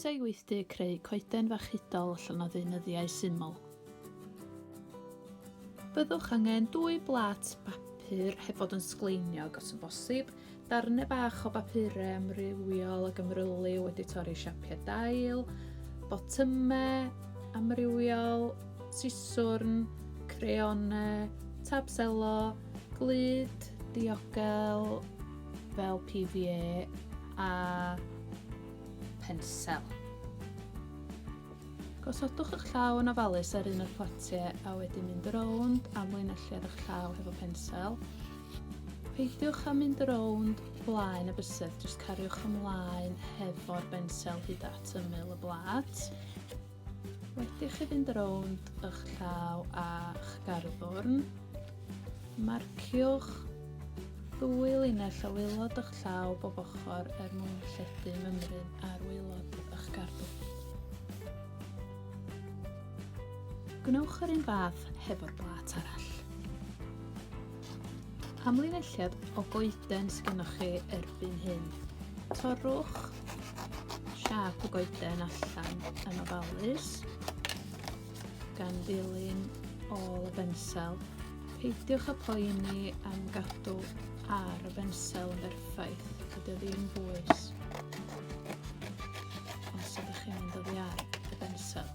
Croeso i weithdy creu coeden fachudol allan o ddeunyddiau syml. Byddwch angen dwy blat bapur heb fod yn sgleiniog os yn bosib, darnau bach o bapurau amrywiol ac ymrylu wedi torri siapiau dail, botymau amrywiol, siswrn, creonau, tabselo, Glud, diogel fel PVA a pensel. Gosodwch eich llaw yn ofalus ar un o'r potiau a wedyn mynd rownd am linelliad eich llaw hefo pensel. Peidiwch â mynd rownd blaen y bysedd, jyst cariwch ymlaen hefo'r bensel hyd at ymyl y blad. Wedi chi fynd rownd ych llaw a'ch garddwrn, marciwch ddwy linell o waelod ych llaw bob ochr er mwyn lledu mymryn ar waelod ych garddwr. Gwnewch yr un fath hefo'r blat arall. Am linelliad o goeden sgynnoch chi erbyn hyn, torrwch siap y goeden allan yn ofalus gan ddilyn ôl y bensel. Peidiwch â poeni am gadw ar y bensel yn berffaith, dydy o ddim bwys. Os ydych chi'n mynd oddi ar y bensel.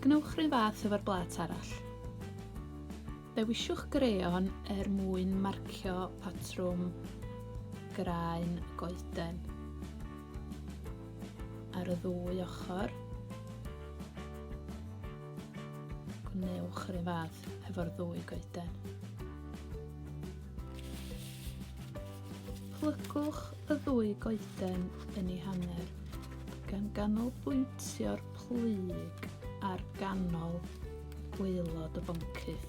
Gwnewch rhywun fath efo'r blat arall. Dewisiwch greon er mwyn marcio patrwm graen goeden. ar y ddwy ochr. Gwnewch yr un fath hefo'r ddwy goeden. Plygwch y ddwy goeden yn ei hanner gan ganolbwyntio'r plyg ar ganol gwaelod y boncyff.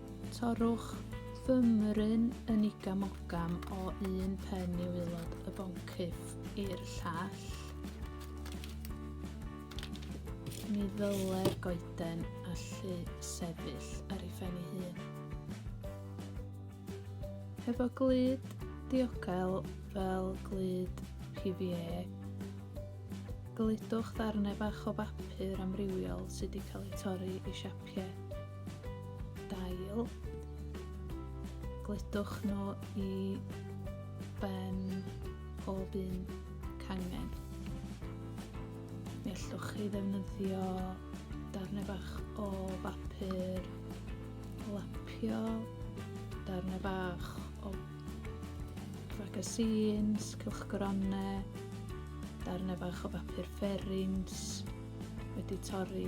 Torrwch fy mryn yn igamogam o un pen i waelod y boncyff i'r llall. Ni ddylai'r goeden allu sefyll ar ei phen ei hun. Hefo glyd diocael fel glyd PVA, glydwch ddarnau bach o bapur amrywiol sydd wedi cael eu torri i siapau blocio dail. Gledwch nhw i ben pob un cangen. Mi allwch chi ddefnyddio darnau bach o bapur lapio, darnau bach o magazines, cylchgronau, darnau bach o bapur fferins wedi torri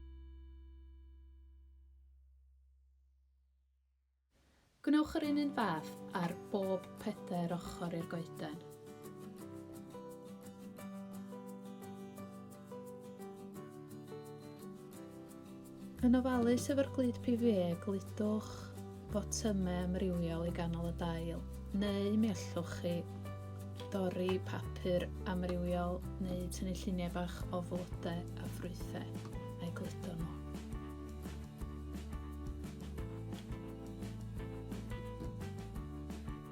Gwnewch yr un un fath ar bob pedair ochr i'r goeden. Yn ofalus efo'r glud PVA, gludwch botymau amrywiol i ganol y dail, neu mi allwch chi dorri papur amrywiol neu tynnu lluniau bach o flodau a ffrwythau a'i gludo nhw.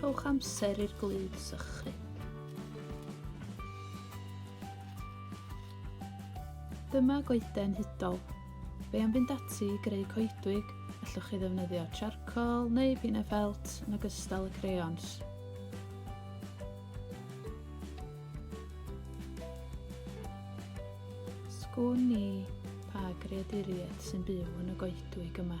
Rhowch amser i'r glud sychu. Dyma goeden hudol. Fe am fynd ati i greu coedwig, allwch chi ddefnyddio charcoal neu bina felt yn ogystal y crayons. Sgwn ni pa greaduriaid sy'n byw yn y goedwig yma.